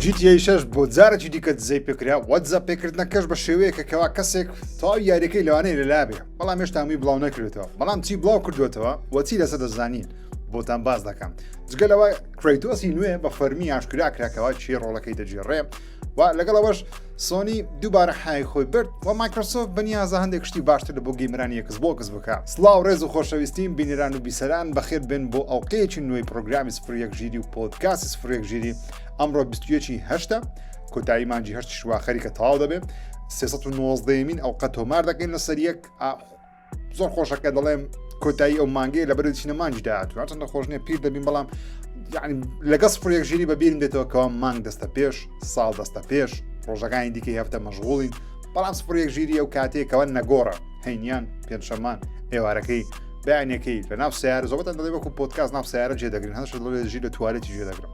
جیتیای شەش بۆ جارێکی دیکە دزەی پێکرا وەجا پێکردنەکەش بە شێوەیەکە کەوا کەسێک تاو یاریەکەی لەوانەیە لەلابێ بەڵام هێشتا هەمووی بڵاو نەکرێتەوە بەڵام چی بڵاو کردوێتەوە وەچی لەسە دەزانین بۆتان باز دەکەم جگەلەوە کرەیتۆسی نوێ بە فەرمی ئاشکرا کراکەوە چی ڕۆڵەکەی دەجێڕێ و لەگەڵ ئەوەش سۆنی دووبارە حای خۆی برد و مایکرۆسۆف بەنیازە هەندێک شتی باشتر لە بۆ گەیمرانی یەکس بۆکس بکە سلااو ڕێز و خۆشەویستیم بینران و بیسەران بەخێت بن بۆ ئەڵلقەیەکی نوێی پرۆگرامی سفرەک ژیری و پۆتکاسی سفرەک ژیری ئەمڕۆ 21 هەشتا کۆتایی مانجی هەشتی شووا خەریکە تەواو دەبێت 1990 مین ئەڵلقە تۆمار دەکەین لە سەریەک زۆر خۆشەکە دەڵێم کۆتایی ئەو مانگەی لە بەرو چینە مانگی داهاتوە چەندە خۆش نیە پیر دەبین بەڵام یعنی لەگەڵ سفرێک ژیری بە بیرم دێتەوە کەەوە مانگ دەستە پێش ساڵ دەستە پێش ڕۆژەکانی دیکەی هەفتە مەژغوڵین بەڵام سفرێک ژیری ئەو کاتێکەوە نەگۆڕە هەینیان پێنجشەمان ئێوارەکەی بەیانەکەی لە ناو سیار زۆبەتە دەڵێ وەکو پۆتکاس ناو سیارە جێدەگرن هەش دەڵێ ژیر لە توالێتی جێدەگرم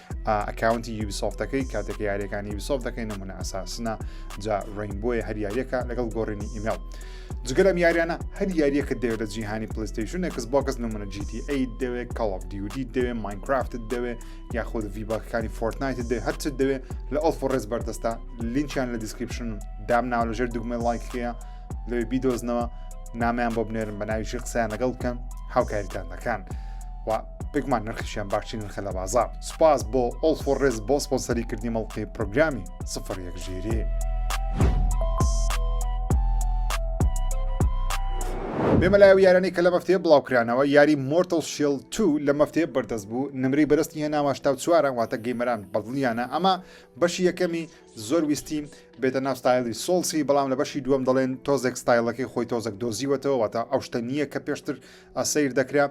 ئەکاونتی یوبیسۆفتەکەی کاتێک یاریەکانی یوبیسۆف دەکەین نمونە ئەساسنە جا ڕین بۆیە هەر یاریەکە لەگەڵ گۆڕینی ئیمێڵ جگەلم یاریانە هەر یاریەکە دەوێت لە جیهانی پلیستیشن ئەکس بۆکەس نمونە GTA دەوێت کاڵف دیودی دەوێت ماینکرافت دەوێت یاخود ڤیباکەکانی فۆرتنایت دەوێت هەرچ دەوێت لە ئەڵف و ڕێز بەردەستە لینچیان لە دیسکرپشن دام ناو لەژێر دوگمە لایکەیە لەوێ بیدۆزنەوە نامیان بۆ بنێرم بە ناویشی قسەیان لەگەڵ بکەن هاوکاریتان دەکەن. بێگومان نرخیشیان باشترین نرخە لە بازار سوپاس بۆ ئۆڵ فۆڕێز بۆ سپۆنسەری کردنی مەڵقی پرۆگرامی سفر یەک ژێری. بێمەلایە و یارانی کە لە مەفتەیە بڵاوکرانەوە یاری مۆرتل شیل تو لە مەفتەیە بەردەست بوو نمری بەرستی هێناوە شتا چوارە واتە گەیمەران بەدڵیانە ئەمە بەشی یەکەمی زۆر ویستی بێتە ناو ستایلی سۆڵسی بەڵام لە بەشی دووەم دەڵێن تۆزێک ستایلەکەی خۆی تۆزەک دۆزیوەتەوە واتە ئەو شتە نییە کە پێشتر سیر دەکرا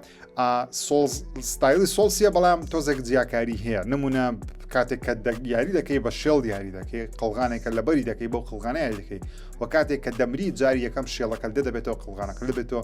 ستایلی سۆڵسیە بەڵام تۆزێک جیاکاری هەیە نمونە کاتێک کە یاری دەکەی بە شێڵ یاری دەکەی قەڵغانێکە لەبەری دەکەی بۆ قڵغانە یاری دەکەی و کاتێک کە دەمری جاری یەکەم شێڵەکە دە دەبێتەوە قڵغانەکە لەبێتەوە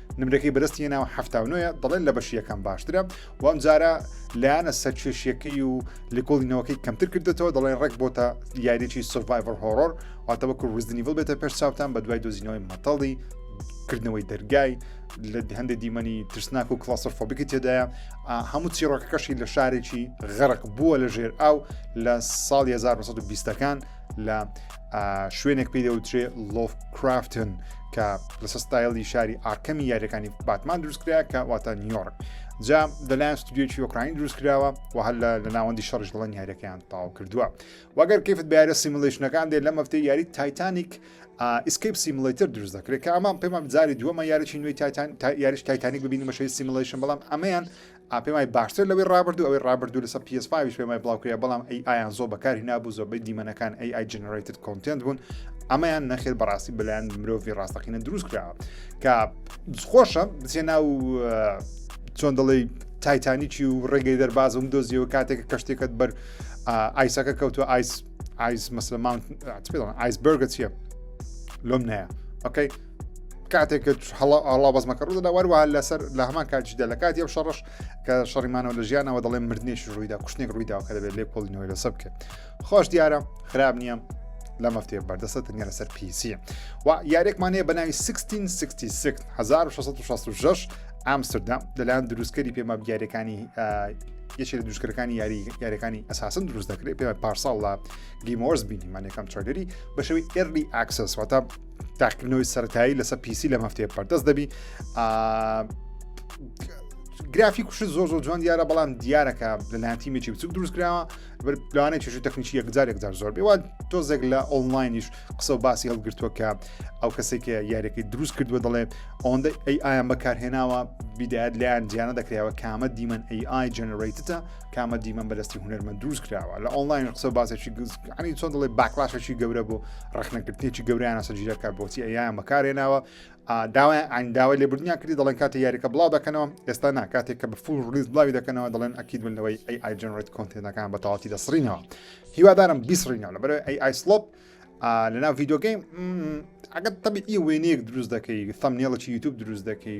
نمرەکەی بەرز تێنا و هەفتا و نوێ دەڵێن لە بەشی یەکەم باشترە و ئەم جارە لایەنە سەرکێشیەکەی و لێکۆڵینەوەکەی کەمتر کردێتەوە دەڵێن ڕێک بۆتە یاریی سڤایڤەر هۆرۆر واتەوە کو ڕزدنیڤل بێتە پێش چاوتان بە دوای دۆزینەوەی مەتەڵی کردنەوەی دەرگای لە هەندێک دیمەنی ترسناک و کلاسەر فۆبیکی تێدایە هەموو چیڕۆکەکەشی لە شارێکی غەرق بووە لە ژێر ئاو لە ساڵ 1920ەکان لە شوێنێک پێی دەوترێ لۆف کرافتن کە لە سستایلی شاری ئاکەمی یاریەکانی باتمان دروستکرا کە واتە نیۆرک جا دەلایەن ستودیۆکی ئۆکراین دروست کراوە و هەر لە ناوەندی شەڕژ دڵن یاریەکەیان تاو کردووە وەگەر کەفت بارە سیملشنەکان دێ لە مەفتەی یاری تایتانیک ئیسکیپ سیملتر دروست دەکرێت کە ئەمان پێمان جاری دووەمە یاریی نوێی تایتان یاریش تایتانیک ببینی مەشەی سیملشن بەڵام ئەمەیان ئا پێم وای باشترە لەوەی ڕابردوو ئەوەی ڕابردوو لەسەر پی ئێس فایڤیش پێم وای بڵاوکریا بەڵام ئەی ئایان زۆر بەکار هینابوو زۆربەی دیمەنەکان ئەی ئای جنرەیتد کۆنتێنت بوون ئەمەیان نەخێر بەڕاستی بەلایەن مرۆڤی ڕاستەقینە دروست کراوە کە خۆشە بچێ ناو چۆن دەڵی تایتانیکی و ڕێگەی دەربازم دۆزیەوە کاتێکە کەشتێکت بەر ئایسەکە کەوتو ئایس ئایس مەسلمان ئایسبرگە چیە لۆم نەیە ئۆکەی کاتێک هەڵاوەزمەکە ڕوودا وەروە لەسەر لە هەمان کاتیشدا لە کاتی ئەو شەڕش کە شەڕیمانەوە لە ژیانەوە دەڵێن مردنێکی ڕوویدا کوشتێک ڕوویداوە کە دەبێت لێ کۆڵینەوەی لەسە بکرێت خۆش دیارە خراب نییە لە مەفتێ بەردەسە تەنیا لەسەر پیسیە و یارێکمانەیە بە ناوی 1666 ئامستردام لەلایەن دروستکەری پێمە دیارەکانی یەکێک لە دوشکەکانی یاری یاریەکانی ئەساسن دروست دەکرێت پێ پارساڵ لە گیمۆرس بینیمان یەکەم چۆدری بەشەوی ئێرلی ئاکسس واتە تاقیکردنەوەی سەتایی لەسەر پیسی لەم هەفتەیە پەردەست دەبی گرافی کوش زۆر زۆر جوان دیارە بەڵام دیارەکە لەلایەن تیمێکی بچوک دروستکراوە لەوانە چێژ تەکنیکی یەکجار یەکجار زۆر بێوە تۆزێک لە ئۆنلاینیش قسە و باسی هەڵگرتووە کە ئەو کەسێکە یاریەکەی دروست کردووە دەڵێ ئەوەندە ئەی ئایان بەکارهێناوە بیدایەت لایەن جیانە دەکرێەوە کامە دیمەن ئەی ئای جنراتە کامە دیمەن بەدەستی هونەرمە دووست کراوە لە ئۆنلاین قسە باسێکی گزگانی چۆن دڵێ باکلاشەکی گەورە بۆ ڕخنەکردنیی گەوریانە سەجیرەکە بۆچی ئەیان بەکارێناوە داوای ئاینداوە لێ بردنیان کردی دەڵێن کاتی یاریەکە بڵاو دەکەنەوە ئێستا ناکاتێک کە بە فول ڕیز بڵاوی دەکەنەوە دەڵێن ئەکیید من لەوەی ئەی ئایجنڕێت کۆنتێنەکان بە تەواتی دەسڕینەوە هیوادارم بیسڕینەوە لە بەرەوەی ئەی ئایسلۆپ لەناو ڤیددیوگەیم ئەگەر تەبی ئی وێنەیەک دروست دەکەی سەم نێڵەی یوتوب دروست دەکەی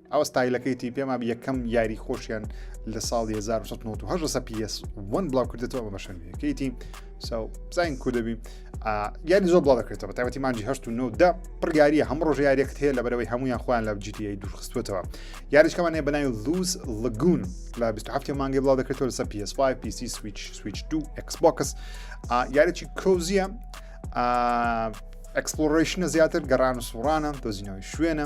ئەوە ستایلەکەی تی پێما یەکەم یاری خۆشیان لە ساڵی 1998 لەسە PS وەن بڵاو کردێتەوە ئەمە بەشەنویەکەیتی ساو بزانین کو دەبی یاری زۆر بڵاو دەکرێتەوە تایبەتی مانجی هەشت و نەودا پڕیاریە هەموو ڕۆژ یاریەکت هەیە لە بەرەوەی هەمویان خۆیان لە GTA دوورخستوتەوە یاریشکەمانەیە بەناوی لوز لەگون لە 27 مانگی بڵاو دەکرێتەوە لەسە PS5 PC Switch Switch 2 Xbox یاریی کۆزیە ئەکسپلۆرشنە زیاتر گەڕان و سوڕانە دۆزینەوەی شوێنە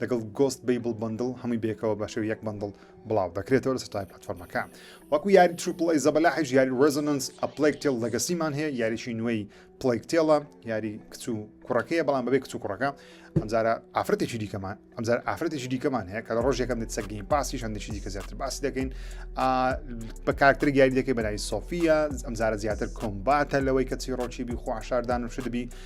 لەگەڵ گۆست بەیبڵ بەندڵ هەمووی بێکەوە بە شێو یەک بەندڵ بڵاو دەکرێتەوە لە سەرای پلتفۆرمەکە وەکو یاری ترپڵی زەبەلاحش یاری ڕێزۆننس ئەپلێک تێڵ لەگەسیمان هەیە یاریشی نوێی پلێک تێڵە یاری کچ و کوڕەکەیە بەڵام بەبێ کچ و کوڕەکە ئەمجارە ئافرەتێکی دیکەمان ئەمجار ئافرەتێکی دیکەمان هەیە کە لە ڕۆژێکم دێت سەگەین پاسی هەندێکی دیکە زیاتر باسی دەکەین بە کارتر یاری دەکەی بەناوی سۆفیە ئەمجارە زیاتر کۆمباتە لەوەی کە چی ڕۆکی بی خوشاردان و شدبی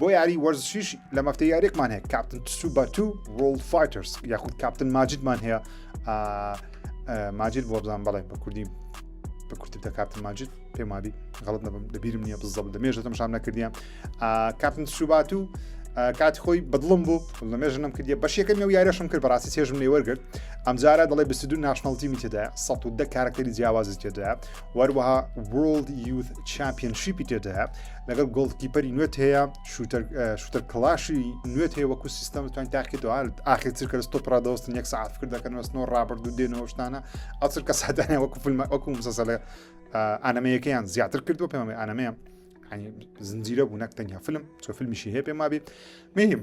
بۆ یاری وەرزشیش لە مەفتە یاریێکمان هەیە کاپتن تسو بە تو ڕۆڵ فایترس یاخود کاپتن ماجدمان هەیە ماجد بۆ بزان بەڵێ بە کوردی بە کورتی بتە کاپتن ماجد پێمابی غڵت نەبم دەبیرم نییە بزەڵ لە مێژ دەمشام نەکردیان کاپتن سوبات و کاتی خۆی بەدڵم بوو لە مێژ نم کردیە بەشیەکەم و یارەشم کرد بەڕاستی چێژم لێ وەرگرت ئەمجارە دەڵێ 22 ناشنڵتی میتێدا 110 کارکتەری جیاوازی تێدا وەروەها World Youth Championship تێدایە لەگەڵ گۆڵکیپەری نوێت هەیە شوتەر کلاشی نوێت هەیە وەکو سیستەم توان تاکێتەوە ئاخر چرکە ستۆ پرادۆستن یەک ساعت کرد دەکەنەوەستنەوە ڕابرد و دێنەوە شتانە ئەو چرکە سادانە وەکو فیلم وەکو مسەسەلێ ئانەمەیەکەیان زیاتر کردو پێمە ئانەمەیە زنجیرە بوو نەک تەنیا فیلم چۆ فیلمیشی هەیە پێم وابێ مهم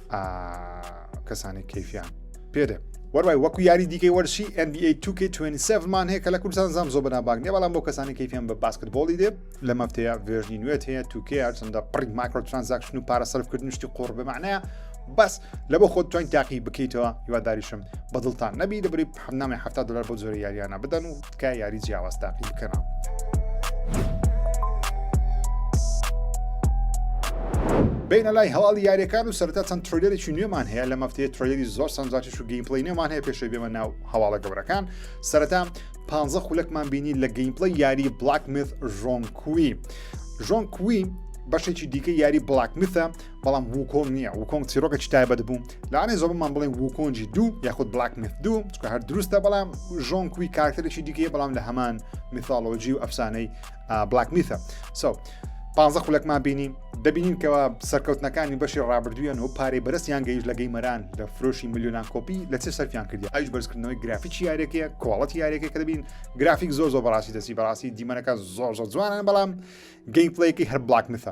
کەسانی کەفیان پێدێ وەروای وەکو یاری دیکەی وەرشی NBA 2K27مان هەیە کە لە کوردستان زام زۆ بەناباگ نیە بەڵام بۆ کەسانی کەفیان بە باسکتبۆڵی دێ لە مەفتەیە ڤێژنی نوێت هەیە توکێ هەرچەندە پڕی مایکرۆ ترانزاکشن و پارە سەرفکردن شتی قۆڕ بمانەیە بەس لە بۆ خۆت توانین تاقی بکەیتەوە هیواداریشم بەدڵتان نەبی دەبری حەمنامی حەفتا دلار بۆ جۆرە یاریانە بدەن و تکای یاری جیاواز تاقی بکەنەوە. بینە لای هەواڵی یاریەکان و سەرتا چەند ترۆلێکی نوێمان هەیە لە مەفتەیە ترۆلێری زۆر سەنجاتیش و گەیمپلی نوێمان هەیە پێشەوی بێمە ناو هەواڵە گەورەکان سەرتا پ خولەکمان بینی لە گەیمپلی یاری بلاک مث ژۆن کوی ژۆن کوی بەشێکی دیکە یاری بلاک مثە بەڵام وکۆنگ نییە وکۆنگ چیرۆکێکی تایبەت بوو لاانێ زۆبمان بڵێ وکۆنجی دوو یاخود بلاک مت دوو چکە هەر دروستە بەڵام ژۆن کوی کارکتەرێکی دیکەیە بەڵام لە هەمان میثالۆجی و ئەفسانەی بلاک میثە سو. پازە خولەکمان بینی دەبینین کەەوە سەرکەوتنەکانی بەشی ڕابردوویان و پارەی بەرزیان گەیش لە گەیمەران لە فرۆشی میلیۆنان کۆپی لە چێ سەرفیان کردی ئایش بەرزکردنەوەی گرافیکی یارێکەیە کۆڵەتی یارێکە کە دەبین گرافیک زۆر زۆر بەڕاستی دەسی بەڕاستی دیمەنەکە زۆر زۆر جوانان بەڵام گەیم پلیکی هەر بلاک مثە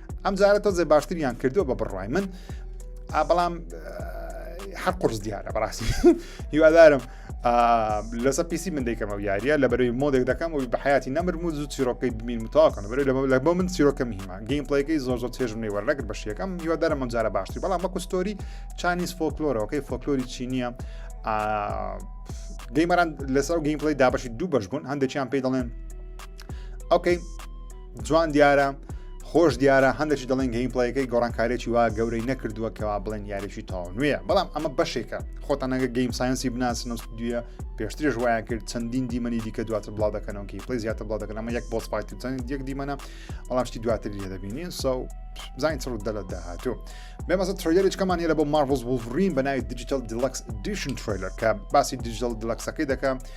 ئەم جارە تۆزێ باشتریان کردووە بە بڕای من بەڵام هەر قرس دیارە بەڕاستی هیوادارم لەسە پیسی من دەیکەمە یاریە لە بەرەوی مۆدێک دەکەم و بە حیاتی نەمرم و زوو چیرۆکەی بمین متاکەن بەرەوە لەمە لە بۆ من چیرۆکە میمە گەیم پلەیەکەی زۆر زۆر چێژم نەی وەرنەگر بە شیەکەم هیوادارم مەجارە باشتری بەڵام بە کوستۆری چانیز فۆکلۆرەوەکەی فۆکلۆری چینیە گەیمەران لەسەر گەیم پلی دابشی دوو بەش بوون هەندێکیان پێی دەڵێن ئەوکەی جوان دیارە خۆش دیارە هەندێکی دەڵێن گەیم پڵەکەی گۆڕانکارێکی وا گەورەی نەکردووە کەوا بڵێن یاریی تاو نوێە بەڵام ئەمە بەشێکە خۆتان نەگە گەیم ساینسی بناسن و ستودیە پێشترش وایە کرد چەندین دیمەنی دیکە دواتر بڵاو دەکەنەوە کی پلی زیاتر بڵاو دەکەن ئەمە یەک بۆ سپایت چەند یەک دیمەە بەڵام شتی دواتر لێ دەبینین سە بزانین چڕ دەلە داهاتوو بێمەسە ترۆیلێک کەمان هێرە بۆ مارڤڵز وڵرین بە ناوی دیجیتال دیلکس دیشن ترۆیلەر کە باسی دیجیتال دیلکسەکەی دەکەم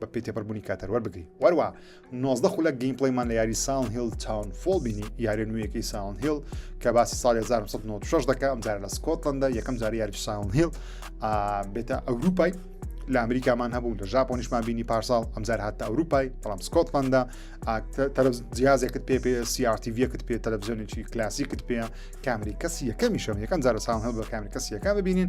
بە پێی تێپەربوونی کاتەر وەربگری وەروە 19 خولەک گەیمپڵیمان لە یاری ساون هیل تاون فۆڵ بینی یارە نوێیەکەی ساون هیل کە باسی ساڵ 1996 دەکە ئەم جارە لە سکۆتلندە یەکەم جاری یاری ساون هیل بێتە ئەوروپای لە ئەمریکامان هەبوو لە ژاپۆنیشمان بینی پارساڵ ئەمجار هاتە ئەوروپای بەڵام سکۆتلندە جیازێکت پێ پێ سیارتیڤەکت پێ تەلەڤزیۆنێکی کلاسیکت پێ کامری کەسی یەکەمیشم یەکەم جارە ساون هەڵ بە کامری کەسی یەکە ببینین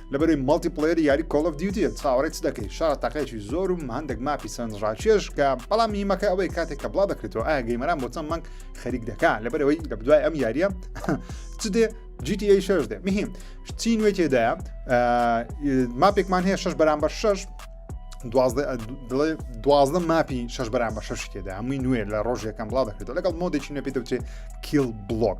لەبەروی مەڵتی پڵێری یاری کۆڵ ئۆف دیوتیە چاوەڕێی چ دەکەی شارە تاقەیەکی زۆر و هەندێک ماپی سەرنج ڕاکێش کە بەڵام میمەکە ئەوەی کاتێک کە بڵاو دەکرێتەوە ئایا گەیمەران بۆ چەند مانگ خەریک دەکا لەبەرەوەی لە بدوای ئەم یاریە چ دێ GTA 6 دێ مهم چی نوێ تێدایە ماپێکمان هەیە شش بەرامبەر شش دوازدە ماپی شش بەرامبەر شش تێدا هەمووی نوێ لە ڕۆژ یەکەم بڵاو دەکرێتەوە لەگەڵ مۆدێکی نوێ پێ دەوتێ کیل بلۆک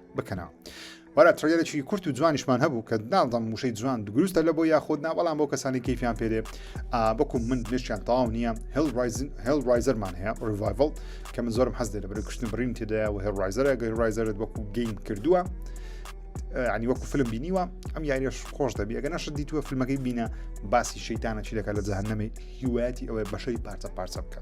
بکەنەوە وەرە تڕێرەی کورت و جوانیشمان هەبوو کە ناڵدەم موشەی جوان دروستە لە بۆ یاخود نا بەڵام بۆ کەسانی کەیفیان پێێ بەکو من نشیان تاو نییە هل ڕایزەرمان هەیە ڕڤایڤل کە من زۆرم حەز لە بەرە کوشتن بڕین تێدایە و هێڵ ڕایزەرە گەی ڕایزەرت وەکو گەین کردووە ینی وەکو فلم بینیوە ئەم یاریش خۆش دەبی ئەگە نەشت دیتووە فیلمەکەی بینە باسی شەیتانە چی دەکات لە جەهنەمەی هیواەتی ئەوەی بەشەی پارچە پارچە بکە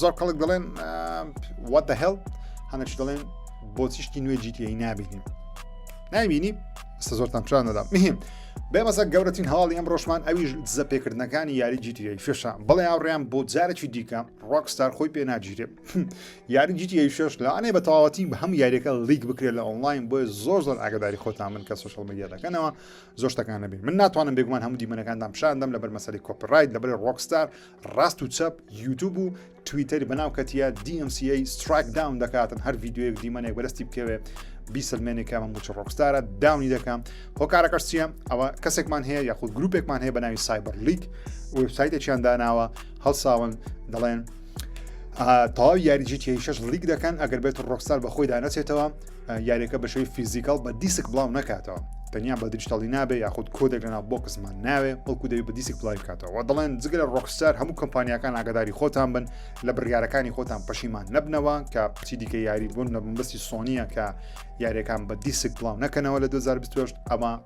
زۆر کەڵک دەڵێن وات دە هێڵ هەنەش دەڵێن بۆچیشتی نوێ جیتیی نابینین نایبینی ئستا زۆرتان پران نەدا مهم بێمەزە گەورەترین هەواڵی ئەم ڕۆژمان ئەویش دزە پێکردنەکانی یاری جیتیی فێشە بڵێ هاوڕیان بۆ جارێکی دیکە ڕۆکستار خۆی پێ ناگیرێ یاری جیتیی فێش لە ئەنێ بە تەواوەتی بە هەم یاریەکە لیک بکرێت لە ئۆنلاین بۆ زۆر زۆر ئاگداری خۆتان من کە سوشل میدیا دەکەنەوە زۆر شتەکان نبین من ناتوانم بێگومان هەموو دیمەنەکاندان پیشاندەم لەبەر مەسەری کۆپرایت لەبەر ڕۆکستار ڕاست و چەپ یوتوب و تویتەری بەناو کەتیە DMCA سترایک داون دەکاتن هەر یددیوەیەک دیمەنێک بەرستی بکەوێت بیسەلمێنێک کە من بچ ڕۆکستارە داونی دەکەم هۆکارەکەش چیە ئەوە کەسێکمان هەیە یاخود گروپێکمان هەیە بە ناوی سایبەر لیک وبسایتێکیان داناوە هەڵساون دەڵێن تەواو یاریجیتیشش لیک دەکەن ئەگەر بێت ڕۆکستار بەخۆی دانەچێتەوە یاریەکە بە شێوی فیزیکال بە دیسک بڵاو نکاتەوە تەنیا بە دیجتەڵی نابێ یاخود کۆدێک لەنا بۆکسمان ناوێ بەڵکو دەوی بە دیسک بڵاوی کاتەوە دەڵێن جگەلە ڕۆکسار هەموو کۆمپانیەکان ئاگداری خۆتان بن لە بڕیارەکانی خۆتان پەشیمان نەبنەوە کە چی دیکە یاری بوون لە بمبستی سۆنیە کە یاریەکان بە دیسک بڵاو نەکەنەوە لە 2020 ئەمە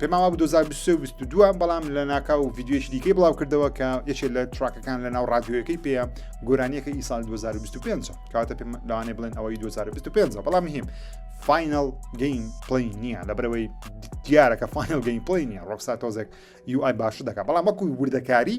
پێمان وابوو 2023 و 22 بەڵام لە ناکاو و ڤیددیوێکی دیکەی بڵاو کردەوە کە یەکێ لە تراکەکان لە ناو ڕادیۆیەکەی پێ گۆرانیەکە ئی سال 2025 کاتە پێ لەوانێ بڵێن ئەوەی 2025 بەڵام هیم فینل گەین پلی نییە لە برەوەی دیارەکە فینل گەین پلی نیە ڕۆکسا تۆزێک یوآی باش دەکە بەڵام وەکو وردەکاری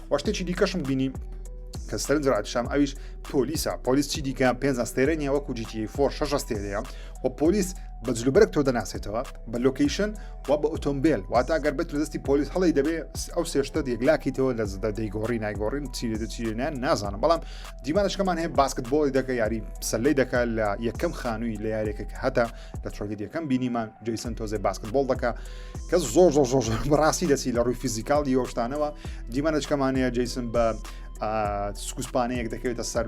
وە شتێکی دیکەشم بینی کە سەرنج ڕاتشام ئەویش پۆلیسە پۆلیس چی دیکە پێ ئەستێرە نیە وەکو جیتی فۆر شەش ئەستێرەیە و پۆلیس بە جلوبەرگ تۆ دەناسێتەوە بە لۆکیشن و بە ئۆتۆمبیل واتا گەر بێت لە دەستی پۆلیس هەڵی دەبێ ئەو سێشتە یەکلاکیتەوە لە زدە دەیگۆڕی نایگۆڕین چیرێت چیرێنیان نازانم بەڵام دیمانشکەمان هەیە باسکت بۆی دەکە یاری سەلەی دەکات لە یەکەم خانووی لە یارێکە هەتا لە ترۆگەدیەکەم بینیمان جیسن تۆزێ باسکتبول دەکە کە زۆر زۆر زۆر زۆر بەڕاستی دەسی لە ڕووی فیزیکال یۆشتانەوە دیمانەچکەمانەیە جیسن بە سکوسپانەیەک دەکەوێتە سەر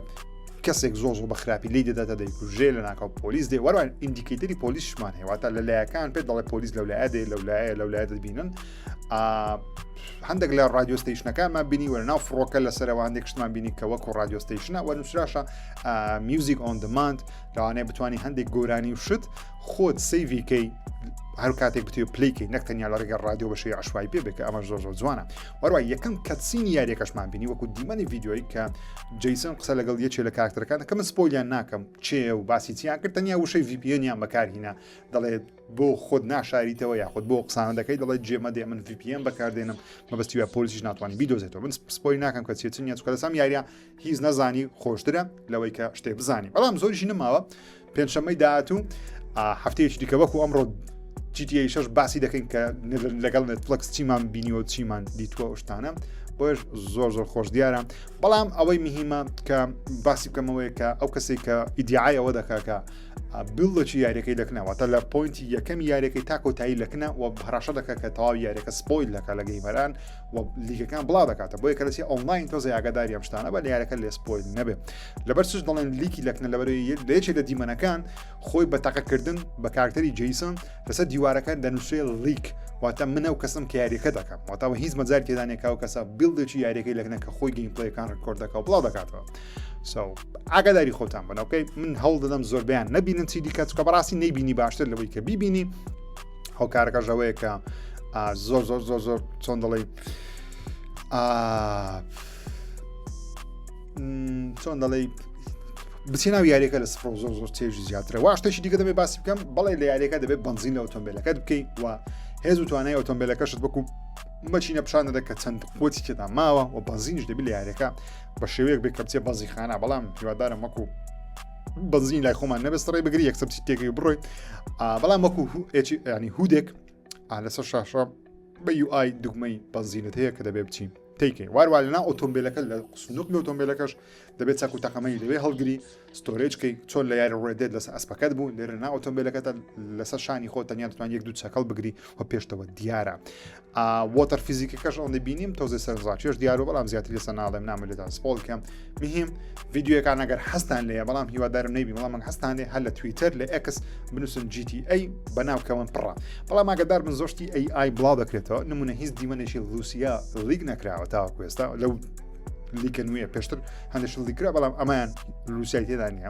کەسێک زۆ زۆ بە خراپی لی دەداتە دەیکوژێ لە ناکاو پۆلیس دێ وەروان ئیندیکیتری پۆلیسمان هێواتە لە لایەکان پێ دەڵێ پۆلیس لەو لایە دێ لەو لایە لەو لایە دەبینن هەندێک لە رادیۆستیشنەکانمان بینی وەرە ناو فڕۆکە لە سەرەوە هەندێک شتمان بینی کە وەکو رادیۆستیشنە وە نووسراشە میوزیک ئۆن دماند لەوانەیە بتانی هەندێک گۆرانی و شت خۆت سەیڤی کەی هەر کاتێک بتێ پلیکەی نەک تەنیا لە ڕێگە ڕادیۆ بەشی عشوای پێ بێکە ئەمە زۆر زۆر جوانە وەروای یەکەم کەسین یاریەکەشمان بینی وەکو دیمەنی یددیوی کە جیسن قسە لەگەڵ یەکێ لە کاکتەرەکان کە من سپۆلیان ناکەم چێ و باسی چیان کرد تەنیا وشەی VPNیان بەکارهینا دەڵێت بۆ خۆت ناشاریتەوە یاخود بۆ قسان دەکەی دەڵێت جێمە دێ من VPN بەکاردێنم مەبستیوە پۆلیسیش ناتوانانی بیدۆزێتەوە من سپۆی ناکەم کە چێتنیە چکە لەسام یاریە هیچ نەزانی خۆشترە لەوەی کە شتێ بزانانی بەڵام زۆریشی نماوە پێنجشەمەی داهاتوو هەفتەیەکی دیکە وەکو ئەمڕۆ جیتیە شش باسی دەکەین کە لەگەڵ نتفلکس چیمان بینیوە چیمان دیتوە شتانە بۆش زۆر زۆر خۆش دیارە بەڵام ئەوەی مهمە کە باسی بکەمەوەی کە ئەو کەسێک کە ئیدیعایەوە دەکاکە بڵەکی یاریەکەی دەکنەوەتە لە پوینتی یەکەم یاریەکەی تا کۆتایی لەکنە و هەراشە دەکە کە تەواو یاریەکە سپۆیل دەکە لە گەیمەران لیگەکان بڵاو دەکاتە بۆیە کەسی ئۆنلاین تۆزە یاگەداری ئەم شتانە بە لەیارەکە لێ سپۆیل نەبێ لەبەر سوش دەڵێن لیکی لەکنە لەبەری لێچێ لە دیمەنەکان خۆی بە تەقەکردن بە کارکتەری جیسن لەسەر دیوارەکە دەنووسێ لیک واتە منە و کەسم کە یاریەکە دەکەم واتاوە هیچ مەجار تێدانێکا و کەسە بیلدێکی یاریەکەی لەکنە کە خۆی گەیمپلەکان ڕکۆرد دەکە و بڵاو دەکاتەوە سو ئاگاداری خۆتان بنەوەکەی من هەوڵ دەدەم زۆربیان نبینن چی دیکە چکە بەڕاستی نەیبینی باشتر لەوەی کە بیبینی هۆکارەکەش ئەوەیە کە زۆر زۆر زۆر زۆر چۆن دەڵێ چۆن دەڵێ بچێ ناو یاریەکە لە سفر زۆر زۆر چێژی زیاترە واشتەشی دیکە دەبێ باسی بکەم بەڵێ لە یاریەکە دەبێت بنزین لە ئۆتۆمبیلەکەت بکەی و هێز و توانای ئۆتۆمبیلەکەشت بکو مەچینە پیشان دەدە کە چەند خۆتی تێدا ماوە و بەنزینش دەبی لە یاریەکە بە شێوەیەک بێ کەپچێ بەزیخانە بەڵام هیوادارم وەکو بەنزین لای خۆمان نەبێست ڕێ بگری یەکسەر تێگەی بڕۆی بەڵام وەکو ینی هودێک لەسەر شاشە بە یوآی دوگمەی بەنزینت هەیە کە دەبێ بچین تیکەین واروا لەنا ئۆتۆمبیلەکە لە سنوک لە ئۆتۆمبیلەکەش دەبێت چاکو تەقەمەی لەوێ هەڵگری ستۆرێجکەی چۆن لە یاری ڕێدێت لەسەر ئەسپەکەت بوو لێرە نا ئۆتۆمبیلەکەتە لەسەر شانی خۆ تەنیا دەتوان یەک دوو چەکەڵ بگری و پێشتەوە دیارە وۆتەر فیزیکەکەش ئەوەندە بینیم تۆزە سەرزاچێش دیارە بەڵام زیاتر لەسە ناڵێم نامە لێدان سپۆڵ کەم مهم ڤیددیوەکان ئەگەر حستان لێ بەڵام هیوادارم نەیبی بەڵام من حستان لێ هەر لە تویتەر لە ئەکس بنووسن GTA بەناوکەون پڕە بەڵام ئاگدار من زۆشتی AI بڵا دەکرێتەوە نمونە هیچ دیمەنێکی لوسیا لیک نەکراوە تاوەکو ئێستا لەو لیکە نوێ پێشتر هەندێک لیکرا بەڵام ئەمایان لوسای تێدا نیە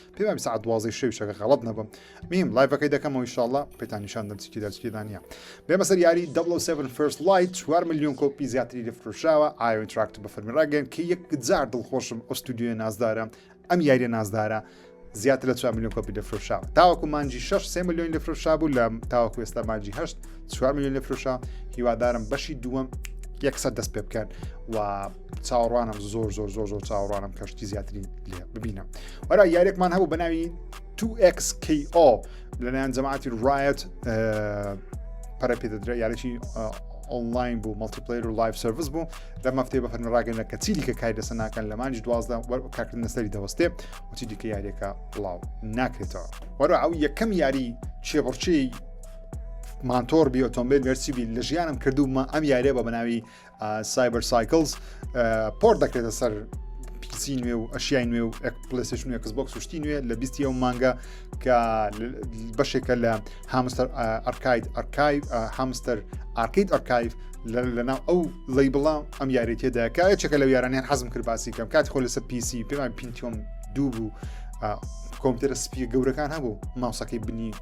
پێ وابی سعات دوازی شەوی شەکە غەڵت نەبم میم لایڤەکەی دەکەمەوە ئیشاءاللە پێتان نیشان دەم چکی دەچکیدا نییە بێمە سەر یاری 7 فرست لایت 4 میلیۆن کۆپی زیاتری لە فرۆشراوە ئاوین تراکت بە فەرمیراگەن کە یەک جار دڵخۆشم ئەو ستودیوە نازدارە ئەم یاریە نازدارە زیاتر لە 4 میلیۆن کۆپی دەفرۆشاوە تاوەکو مانجی 6 سێ میلیۆن لەفرۆشا بوو لە تاوەکو ئێستا مانجی هەشت 4 میلیۆن لەفرۆشا هیوادارم بەشی دووەم یەکسەر دەست پێ بکەن و چاوەڕوانم زۆر زۆر زۆر زۆر چاوەڕوانم کەشتی زیاترین لێ ببینم وەرا یارێکمان هەبوو بەناوی 2xKO لەلایەن جەماعتی ڕایەت پەرە پێ دەدرێت یارێکی ئۆنلاین بوو مەڵتیپلیر و لایف سرویس بوو لە مەفتێ بە فەرمی ڕاگەنە کە چی دیکە کاری لەسەر ناکەن لە مانج دوازدە کاکردن لەسەری دەوەستێ وچی دیکە یاریەکە بڵاو ناکرێتەوە وەرە ئەو یەکەم یاری چێبڕچی مانتۆر بی ئۆتۆمبیل گەرچی بی لە ژیانم کردومە ئەم یاریە بە بەناوی سایبەرسایکلز پۆر دەکرێتە سەر پیسی نوێ و ئەشیای نوێ و پلسش نوێ کسبک سوشتی نوێ لە بیستی ئەو مانگە کە بەشێکە لە هامستەر ئەرکاید ئەرکایف هامستەر ئارکیت ئەرکایف لەناو ئەو لی بڵام ئەم یاریتێدا کە چەکە لە یارانیان حەزم کرد باسی کەم کاتی خۆ لەسەر پیسی پێمان پینتۆم دوو بوو کۆمپیوتەرە سپی گەورەکان هەبوو ماوسەکەی بنی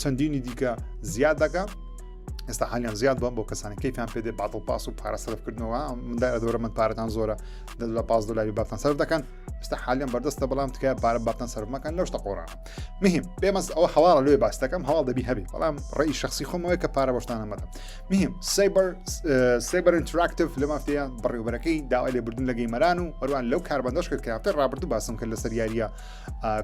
چەندینی دیکە زیاد دەکە ئێستا حالیان زیاد بم بۆ کەسانی کەیفیان پێ دێ باتڵ پاس و پارە سەرفکردنەوە مندا دەورە من پارەتان زۆرە دەلا پاس دلاری باتان سەر دەکەن ئستا حالیان بەردەستە بەڵام تکای پارە باتان سەرمەکان لەو شتە قۆڕان مهم بێمەز ئەوە هەواڵە لێ باستەکەم هەواڵ دەبی هەبی بەڵام ڕێی شخصی خۆمەوە کە پارە بەشتانە مەدە مهم سیبەر سیبەر ئینتراکتف لە مافتەیە بڕێوبەرەکەی داوای لێبردن لە گەیمەران و هەروان لەو کاربندەش کرد کە هەفتە ڕابردوو باسم کرد لەسەر یاریە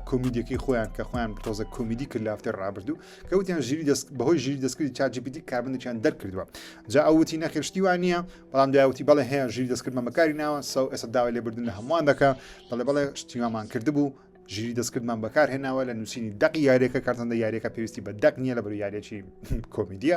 کۆمیدیەکەی خۆیان کە خۆیان تۆزە کۆمیدی کرد لافتی ڕابردوو کەوتیان ژیری دەست بەهۆی ژیری دەستکردی چاجیپیتی کاربندێکیان دەرکردووە جا ئەوتی نەخێشتیوان نییە بەڵام داوتی بەڵێ هەیە ژیری دەستکردمە بەکاری ناوە سەو ئێستا داوای لێبردن لە هەمووان دەکە بەڵێ بەڵێ شتیوامان کردبوو ژیری دەستکردمان بەکار هێناوە لە نووسینی دەق یاریەکە کارتەندە یاریەکە پێویستی بە دەق نییە لە بەر یاریەکی کۆمیدیە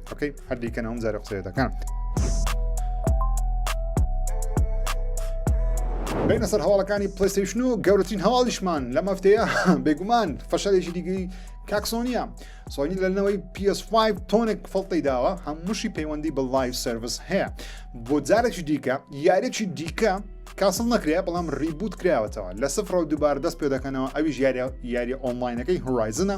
ئۆکەی هەر دیکەن ئەوم جارە قسەیە دەکەم. بینە سەر هەواڵەکانی پلیستیشن و گەورەترین هەواڵیشمان لە مەفتەیە بێگومان فەشەلێکی دیگری کاکسۆنیە سۆنی لەنەوەی PS5 تۆنێک فڵتی داوە هەمووشی پەیوەندی بە لایف سرویس هەیە بۆ جارێکی دیکە یارێکی دیکە کاسڵ نەکرێ بەڵام ریبوت کراوەتەوە لە سفرەوە دووبار دەست پێ دەکەنەوە ئەویش یاریە یاری ئۆنلاینەکەی هورایزنە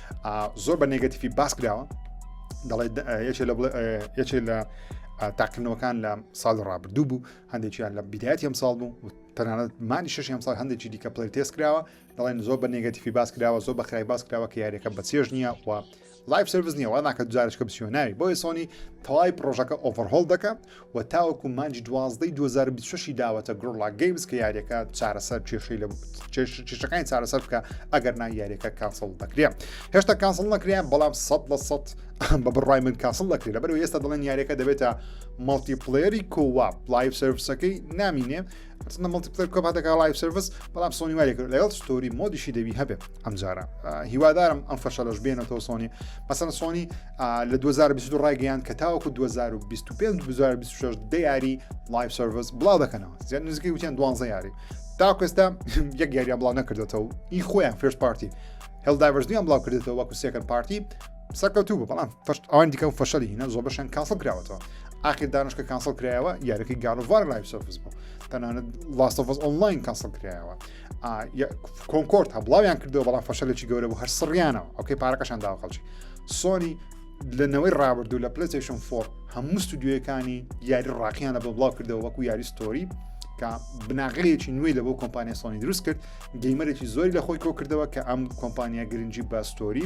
زۆر بە نێگەتیفی باس کراوە دەڵێت یەکێ لە تاقلنەوەکان لە ساڵ ڕابردوو بوو هەندێکیان لە بیدایەتی ئەم ساڵ بوو تەنانەت مانی شش ئەم ساڵ هەندێکی دیکە پلی تێس کراوە دەڵێن زۆر بە نێگەتیفی باس کراوە زۆر بە خراپی باس کراوە کە یاریەکە بە چێژ نییە و لایف سرویس نیە واناکە جارشکە بسیۆناوی بۆیە سۆنی تەواوی پرۆژەکە ئۆڤەرهۆڵ دەکە و تاوەکو مانجی دوازدەی 2026 ی داوەتە گرۆڵا گەیمز کە یاریەکە چارەسەر کێشەی لە کێشەکانی چارەسەر بکە ئەگەر نا یاریەکە کانسڵ دەکرێت هێشتا کانسڵ نەکرێن بەڵام سە بە سە بە بڕای من کاسڵ دەکرێت لەبەر ئێستا دەڵێن یاریەکە دەبێتە مەڵتی پلێری کۆوا لایف سرویسەکەی نامینێ چندە مڵتیپتر کۆپ هەتەکە لایف سرویس بەڵام سۆنی وای کرد لەگەڵ ستۆری مۆدیشی دەبی هەبێ ئەمجارە هیوادارم ئەم فەشەلەش بێنەوە سۆنی مەسەن سۆنی لە 2022 ڕایگەیان کە تاوەکو 2025 2026 دیاری لایف سرویس بڵاو دەکەنەوە زیاد نزیکەی وتیان دوانزە یاری تاکوێستا یەک یاریان بڵاو نەکردێتەوە ئی خۆیان فرش پارتی هەڵداڤژنیان بڵاو کردێتەوە وەکو سێکەر پارتی سەکەوتوو بوو بەڵام فشت ئەوان دیکە و فەشەلی هینە زۆر بەشان کاسڵ کراوەتەوە ئاخر دانشکە کاسڵ کرایەوە یارەکەی گاڵڤار لای سەفز بوو تەنانەت لاستەفز ئۆنلاین کاسڵ کرایەوە کۆنکۆرت هەبڵاویان کردەوە بەڵام فەشەلێکی گەورە بوو هەر سڕیانەوە ئەوکەی پارەکەشان داوە خەڵکی سۆنی لە نەوەی ڕابردوو لە پلسیشن فۆر هەموو ستودیوەکانی یاری ڕاقییان لە بۆ بڵاو کردەوە وەکو یاری ستۆری کە بناغەیەکی نوێی لە بۆ کۆمپانیا سۆنی دروست کرد گەیمەرێکی زۆری لە خۆی کۆکردەوە کە ئەم کۆمپانیا گرنگجی باستۆری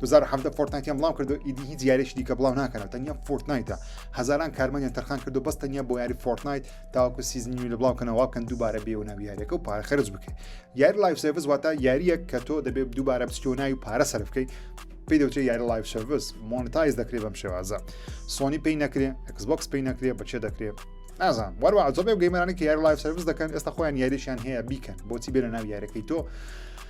2017 فۆرتنایتیان بڵاو کردو ئیدی هیچ یاریش دیکە بڵاو ناکەنەوە تەنیا فۆرتنایتە هزاران کارمانیان تەرخان کردو بەس تەنیا بۆ یاری فۆرتنایت تاوەکو سیزنی لە بڵاوکەنەوە کەن دووبارە بێ و ناویارەکە و پارە خرج بکەیت یاری لایف سرویس واتە یاریەک کە تۆ دەبێت دووبارە بچیۆناوی پارە سەر بکەیت پێی دەوتێ یاری لایف سرویس مۆنتایز دەکرێت بەم شێوازە سۆنی پێی نەکرێ ئەکسبکس پێی نەکرێ بەچێ دەکرێت نازان وەروە زۆبێ گەیمەرانی کە یاری لایف سرویس دەکەن ئێستا خۆیان یاریشیان هەیە بیکەن بۆچی بێنە ناو یارەکەی تۆ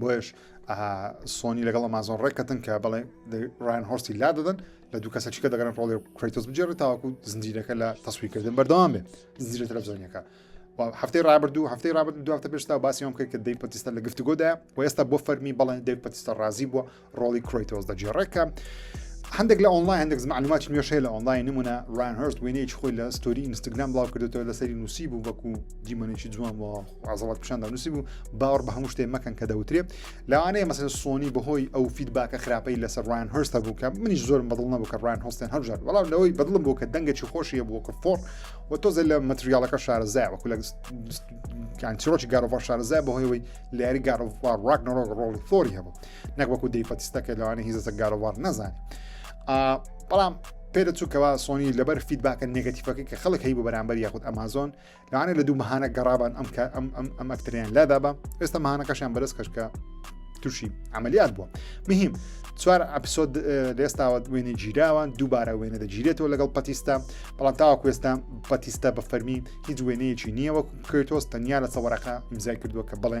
بۆیش سۆنی لەگەڵ ئەمازۆن ڕێکەتن کە بڵێ ڕایان هۆستی لا دەدەن لە دوو کەسە چکە دەگەن ڕۆڵێ کریتۆس بجێڕێت تاوەکو زنجیرەکە لە تەسویکردن بەردەوام بێ زیرە تەلەڤزیۆنەکە هەفتەی رابردوو هەفتەی رابرد دواتە پێشتا باسیۆم کرد کە دەی پتیستە لە گفتوگۆدا و ئێستا بۆ فەرمی بەڵێن دەی پتیستە رازی بووە ڕۆڵی کرۆیتۆز دەگێڕێ کە هەندێک لە ئۆنلاین هەندێک معلومات نوێشەیە لە ئۆنلاین نمونە ڕان هەرست وێنەیەکی خۆی لە ستۆری ئینستاگرام بڵاو کردێتەوە لەسەری نووسی بوو وەکو دیمەنێکی جوان بۆ عزڵات پیشاندا نووسی بوو باوەڕ بە هەموو شتێ مەکەن کە دەوترێ لەوانەیە مەسەر سۆنی بەهۆی ئەو فیدباکە خراپەی لەسەر ڕان هەرستە بوو کە منیش زۆرم بەدڵ نەبوو کە ڕان هەستێن هەرژار بەڵام لەوەی بەدڵم بوو کە دەنگێکی خۆشیە بووکە فۆر و تۆزە لە مەتریالەکە شارەزای وەکو لە چیرۆکی گارۆڤ شارەزای بەهۆیەوەی لاری گارۆڤ ڕاک نەڕۆک ڕۆڵی فۆری هەبوو نەک وەکو دەیفەتستە کە لەوانە هیزەسە گارۆوار نەزانێ بەڵام پێرە چووکەوە سۆنی لەبەر فیدباکە نگەتیفەکە کە خەڵک هەی بۆ بەرامبەر یاخود ئەمازۆن لەوانە لە دوو مەهانە گەڕابان ئەم کە ئەم ئەم ئەم ئەکتریان لادا بە ئێستا مانەکەشیان بەرز کەشکە تووشی عملیات بووە مهم چوار ئەپسۆد لێستاوە وێنە گیراوان دووبارە وێنە دەگیرێتەوە لەگەڵ پەتیستە بەڵام تاوا کوێستا پەتیستە بە فەرمی هیچ وێنەیەکی نییە وەکو کرێتۆس تەنیا لە سەوەرەکە ئیمزای کردووە کە بڵێ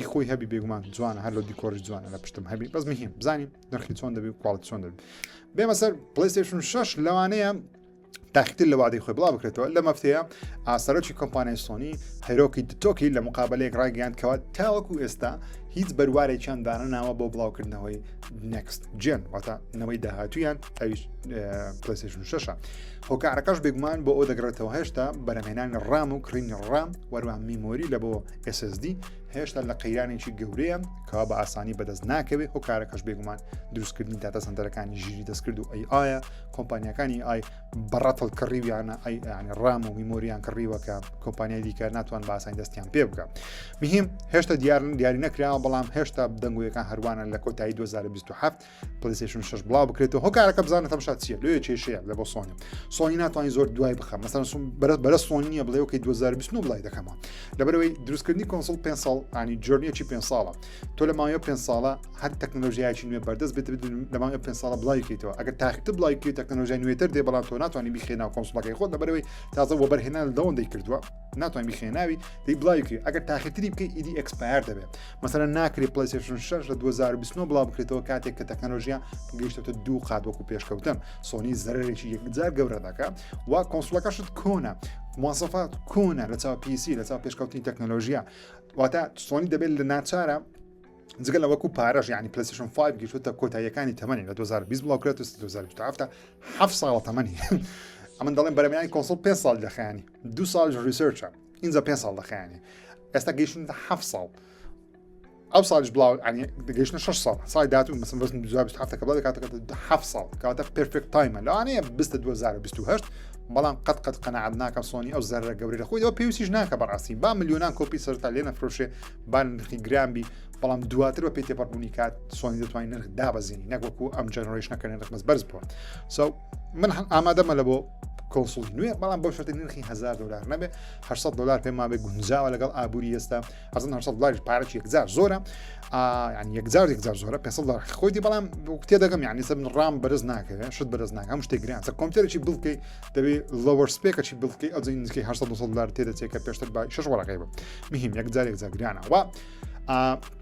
ی خۆی هەبی بێگومان جوانە هەر لە دیکۆری جوانە لە پشتم هەبی بەس مهم بزانین نرخی چۆن دەبی کوڵ چۆن دەبی بێمە سەر پلیستشن 6 لەوانەیە تاختر لە وادەی خۆی بڵا بکرێتەوە لە مەفتەیە ئاسەرۆکی کۆمپانیای سۆنی هەرۆکی دتۆکی لە مقابلەیەک ڕایگەیاندکەوە تاوەکو ئێستا هیچ بەروارێکیان دانەناوە بۆ بڵاوکردنەوەی نەکست جێن واتە نەوەی داهاتویان ئەویش پلیسشن شەشە هۆکارەکەش بێگومان بۆ ئەو دەگرێتەوە هێشتا بەرەمێنانی ڕام و کڕینی ڕام وەروان میمۆری لە بۆ SSD هێشتا لە قەیرانێکی گەورەیە کەوا بە ئاسانی بەدەست ناکەوێت ئەو کارەکەش بێگومان دروستکردنی داتا سندەرەکانی ژیری دەستکرد و ئەی ئایا کۆمپانیەکانی ئای بەڕەتڵ کڕیویانە ئەی ئەنی ڕام و میمۆریان کڕیوەکە کۆمپانیای دیکە ناتوان بە ئاسانی دەستیان پێ بکە مهم هێشتا دیارن دیاری نەکراوە بەڵام هێشتا دەنگویەکان هەروانە لە کۆتایی 2027 پلیسشن شش بڵاو بکرێتەوە هۆکارەکە بزانە تەمشا چیە لێ کێشەیە لە بۆ سۆنی سۆنی ناتوانین زۆر دوای بخە مەسەن سوم بەرە بەرە سۆنی نیە بڵێ وکەی 2020 بڵای دەکەمەوە لەبەرەوەی دروستکردنی کۆنسڵ پێ ساڵ ئانی جۆرنیەکی پێ ساڵە تۆ لە ماوەیە پێ ساڵە هەر تەکنۆلژیایکی نوێ بەردەست بێت لە ماوەیە پێ ساڵە بڵایکەیتەوە ئەگەر تاخت بڵای کرێت تەکنۆلژای نوێتر دێ بەڵام تۆ ناتوانانی بخێنا کۆنسڵەکەی خۆت لەبەرەوەی تازە وەبەرهێنان لەوەندەی کردووە ناتوانین بخێناوی دی بڵاوکری ئەگەر تاخیتری بکە ئیدی ئەکسپایر دەبێت مەسەرە ناکری پلیسشن 6 لە 2020 بڵاو بکرێتەوە کاتێک کە تەکنەلۆژیا گەیشتێتە دوو قات وەکو پێشکەوتن سۆنی زەرێکی یەکجار گەورە دەکە وا کۆنسلەکەشت کۆنە موواسەفات کۆنە لە چاو پیسی لە چاو پێشکەوتنی تەکنەلۆژیا واتە سۆنی دەبێت لە ناچارە جگە لە وەکو پارەژ ینی پلسیشن 5 گیشتە کۆتاییەکانی تەمەنی لە 2020 بڵاوکرێت و 2017 ه ساڵە تەمەنی ئەمن دەڵێن بەرەمیانی کۆنسڵ پێ ساڵ دەخیانی دوو ساڵیش ریسێرچە ئینجا پێ ساڵ دەخیانی ئێستا گەیشتن ه ساڵ ئەو ساڵش بڵاو گەشتە 6 ساڵ سای داات و مەسم بەستن دو هەفتەکە بڵ کاتەکە ه ساڵ کاتە پرفێک تایمە لەوانەیە بستە 2028 بەڵام قەت قەت قەنەعات ناکە سۆنی ئەو زەرە گەوری لە خۆیەوە پێویستیش ناکە بەڕاستی با میلیۆنان کۆپی سەرتا لێ نەفرۆشێ بان نرخی گرانبی بەڵام دواتر بە پێی تێپەڕبوونی کات سۆنی دەتوانین نرخ دابەزینی نەکوەکو ئەم جەنەرۆیشنەکەێن ڕخمەز بەرز بووە سو من ئامادەمە لە بۆ کۆنسڵی نوێ بەڵام بۆ شتی نرخی هزار دلار نەبێ 600 دلار پێ ماێ گونجاوە لەگەڵ ئابووری ئێستا ئەزن 600 دلار پارەی یەکجار زۆرە یان یەکجار یەکجار زۆرە 500 دلار خۆیدی بەڵام تێ دەگەم یان نیسە من ڕام بەرز ناکەێت شت بەرز ناکەم شتێک گران سە کۆمپیوتەرێکی بڵکەی دەبێت لەوەر سپێکەی بڵکەی ئەو نزیکەی 600 دلار تێدەچێت کە پێشتر بای شش وەرەقەی بە مهم یەکجار یەکجار گرانە وە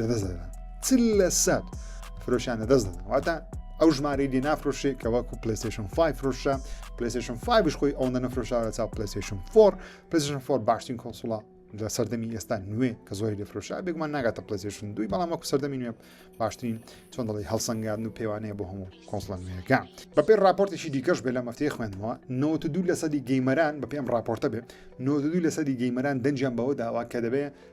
لەدەست دەدەن چ لە سەد فرۆشیان لەدەست دەدەن واتە ئەو ژمارەی لێ نافرۆشێ کە وەکو پلیسشن 5 فرۆشە پلیسشن 5 خۆی ئەو نەفرۆشارە چاو پلیسشن 4 پلیسشن 4 باشترین کۆسوڵە لە سەردەمی ئێستا نوێ کە زۆری لەفرۆشا بێگومان ناگاتە پلیسشن دوی بەڵام وەکو سەردەمی نوێ باشترین چۆن دەڵی هەڵسەنگاردن و پێوانەیە بۆ هەموو کۆنسڵە نوێەکە بەپێ راپۆرتێکی دیکەش بێ لە مەفتەیە خوێندەوە 92 لە سەدی گەیمەران بە پێم راپۆرتە بێ 92 لە سەدی گەیمەران دەنجیان بەوە داوا کە دەبێ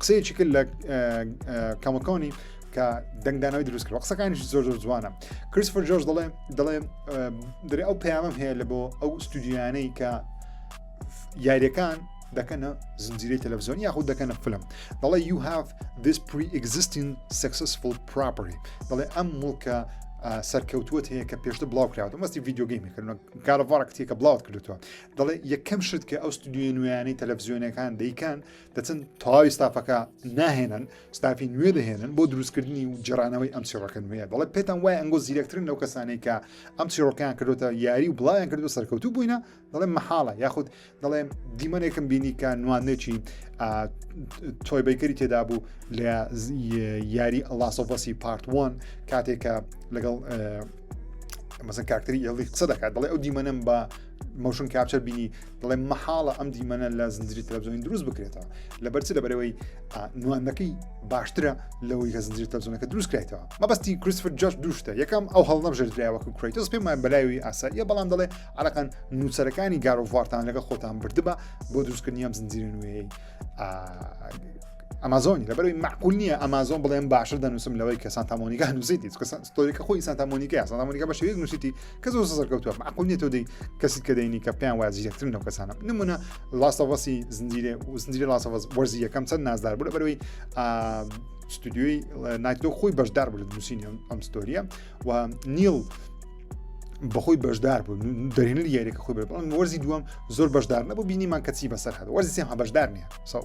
قسەیەکی کرد لە کەمەکانی کە دەنگدانەوەی دروست کرد قسەکانیش زۆر زۆر جوانە کریسفر جۆرج دەڵێ دەڵێ دەێ ئەو پەیامم هەیە لە بۆ ئەو ستودیانەی کە یاریەکان دەکەنە زنجیری تەلەڤزیۆن یاخود دەکەنە فلم دەڵێ you have this pre-existing successful property دەڵێ ئەم مڵکە سەرکەوتوت هەیە کە پێشتە بڵاو کراوە مەستی ڤیددیوگەیمی کردن کارەڤڕکتیەکە بڵاوت کردووە دەڵێ یەکەم شت کە ئەو ستودیو نوێیانەی تەلەڤزیۆنەکان دەیکەن دەچن تەواوی ستافەکە ناهێنن ستافی نوێ دەهێنن بۆ دروستکردنی و جرانەوەی ئەم چیڕەکە نوێ بەڵێ پێتان وای ئەنگۆ زیرەکترن لەو کەسانەی کە ئەم چیڕۆکیان کردوتە یاری و بڵاویان کردو سەرکەوتو بووینە دەڵێ محاڵە یاخود دەڵێ دیمەنێکم بینی کە نوانێکی تۆی بیکەری تێدا بوو لە یاری ئەلاسۆڤەسی پارتوان کاتێکە لەگەڵ مەسە کاکتری ئێڵی قسە دەکات دەڵێ ئەو دیمەنم بە مۆشن کاپچەر بینی دەڵێ مەحاڵە ئەم دیمەنە لە زنجری تەلەڤزیۆنی دروست بکرێتەوە لەبەر چ لەبەرەوەی نواندنەکەی باشترە لەوەی کە زنجری تەلەڤزیۆنەکە دروست کرێتەوە مەبەستی کریسفر جاش دوشتە یەکەم ئەو هەڵنەم ژێردراوەکە کریتۆس پێمان بەلایوی ئاساییە بەڵام دەڵێ عراقان نووسەرەکانی گارۆڤارتان لەگە خۆتان بردبە بۆ دروستکردنیام زنجیری نوێی ئەمازۆنی لەبەروی معقول نییە ئەمازۆن بڵێن باشتر دەنووسم لەوەی کەسان تامۆنیگە نووسیتی ستۆریەکە خۆی سانتا مۆنیکای سانتا مۆنیکا بە شێوەیەک نووسیتی کە زۆر سەرکەوتووە معقول نیە تۆ دەی کەسیت کە دەینی کە پێیان وایە زیرەکترن لەو کەسانە نمونە لاستەڤەسی زنجیرە و زنجیرە لاستەڤەس وەرزی یەکەم چەند نازدار بوو لە بەرەوەی ستودیوی نایتۆ خۆی بەشدار بوو لە نووسینی ئەم ستۆریە و نیل بەخۆی بەشدار بوو دەرێنەر یاریەکە خۆی بەڵام وەرزی دووەم زۆر بەشدار نەبوو بینیمان کەچی بەسەر هەر وەرزی سێم هە بەشدار نیە ساو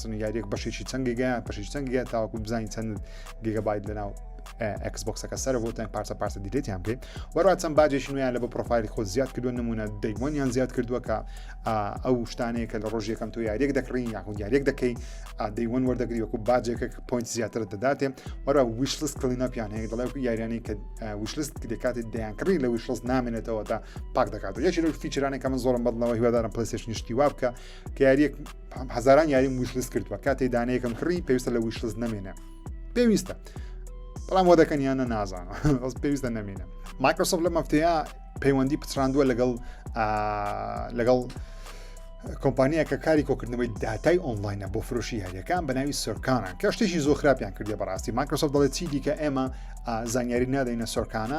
سنوگاریەک بەشێکی چەند گگە بەشێک چەند گگە تاوەکو بزانین چەند گگە باید لەناو ئەکسبکسەکە سەر بۆ تەن پارچە پارچە دیلێتیان بێ وەرا چەند باجێکی نویان لە بە پرۆفایلی خۆ زیاد کردو نمونە دەیوانیان زیاد کردووە کە ئەو شتانەیە کە لە ڕۆژ یەکەم تۆ یاریەک دەکڕین یاخو یاریەک دەکەی دەیوان وەردەگری وەکو باجێکە پوینت زیاتر دەداتێ وەرا ویشلس کلیناپیان هەیە دەڵێ یاریانەی کە ویشلست دەکاتی دەیانکڕی لە ویشلس نامێنێتەوە تا پاک دەکات یەکی لە فیچرانێک کە من زۆرم بەدڵەوە هیوادارم پلسش نیشتی وابکە کە یاریەک هەزاران یاریم ویشلس کردووە کاتێ دانەیەکم کڕی پێویستە لە ویشلس نمێنە پێویستە بەڵام وە دەکەن یانە نازان ئەس پێویستە نمێنە مایکرۆسۆف لە مەفتەیە پەیوەندی پچراندووە لەگەڵ لەگەڵ کۆمپانیا کە کاری کۆکردنەوەی داتای ئۆنلاینە بۆ فرۆشی یاریەکان بە ناوی سەرکانە کە شتێکی زۆر خراپیان کردی بەڕاستی مایکرۆسۆف دەڵێت چی دیکە ئێمە زانیاری نادەینە سەرکانە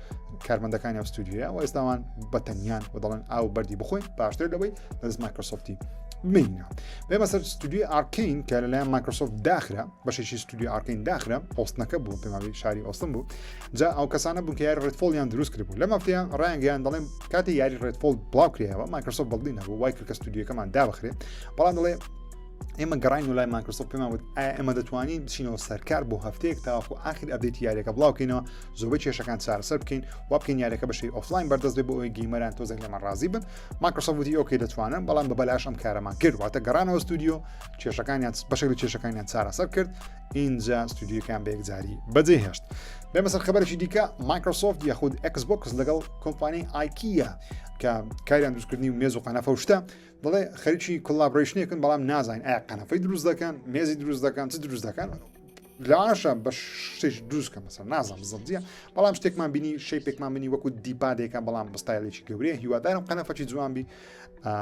کارمەندەکانی ئەو ستودیوە و ئێستاوان بەتەنیان و دەڵێن ئاو بەری بخۆین باشتر لەوەی لەز مایکرۆسۆفتی مینە بێمە سەر ستودیوی ئارکین کە لەلایەن مایکرۆسۆفت داخرا بەشێکی ستودیو ئارکین داخرا ئۆستنەکە بوو پێماوی شاری ئۆستن بوو جا ئەو کەسانە بوو کە یاری ڕێتفۆلیان دروست کرد بوو لە مافتیان ڕایانگەیان دەڵێن کاتی یاری ڕێتفۆل بڵاوکرێەوە مایکرۆسۆف بەڵی نەبوو وای کرد کە ستودیوەکەمان دابخرێ بەڵام دەڵێ ئێمە گەڕین و لای ماکرسۆ پێماوت ئەمە دەتوانین بچینەوە سەرکار بۆ هەفتەیەک تاوەخۆ ئاخر ئەبێت یاریەکە بڵاوکەینەوە زۆربەی کێشەکان چارەسەر بکەین وا بکەین یارەکە بەشی ئۆفلاین بەردەست بێ بۆ ئەوی گەیمەران تۆزێک لەمە ڕازی بن ماکرسە وتی ئۆکەی دەتوانن بەڵام بە بەلاش ئەم کارەمان کرد واتە گەڕانەوە ستودیو کێشەکانیان بەشێک لە کێشەکانیان چارەسەر کرد ئینجا ستودیوکان بەیەکجاری بەجێ هێشت بێمە سەر خبرێکی دیکە ماکرۆسۆفت یاخود ئەکسبکس لەگەڵ کۆمپانی ئایکیە کە کاریان دروستکردنی و مێز و قەنەفە شتە دەڵێ خەریکی کولاابڕیشنێکن بەڵام نازانین ئایا قەنەفەی دروست دەکەن مێزی دروست دەکەن چ دروست دەکەن لاشە بە شتێکی دروستکە مەسەر نازانم زەندیە بەڵام شتێکمان بینی شەی پێکمان منی وەکو دیپادێکە بەڵام بەستایلێکی گەورەیە هیوادارم قەنەفەکی جوانبی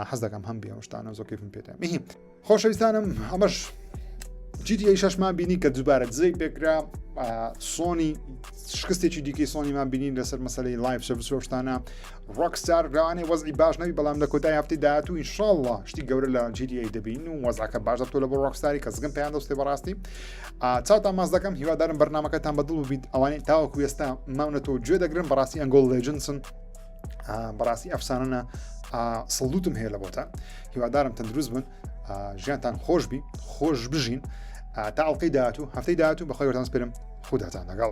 حەز دەکەم هەم بێ شتانە زۆکەفم پێێ میهیم خۆشەویستانم ئەمەش جیدی شەشمان بینی کە دووبارە دزەی پێکرا سۆنی شکستێکی دیکەی سۆنیمان بینین لەسەر مەسلەی لایف سروشتانە ڕۆکستار لەوانەیە وەزعی باش نەبی بەڵام لە کۆتای هەفتی داهاتوو ئینشاءاللە شتی گەورە لە جیریایی دەبین و وەزعەکە باش دەبتۆ لە بۆ ڕۆکستاری کە زگم پێیان دەستێ بەڕاستی چاوتان ماز دەکەم هیوادارم بەرنمەکەتان بەدڵ بیت ئەوانەی تاوەکو ئێستا ماونەتەوە گوێ دەگرن بەڕاستی ئەنگۆڵ لێجنسن بەڕاستی ئەفسانە سڵوتم هەیە لە بۆتان هیوادارم تەندروست بن ژیانتان خۆش بی خۆش بژین تا ئەڵلقەی داهاتوو هەفتەی داهاتوو بەخۆی وەتان سپرم خوداتان لەگەڵ.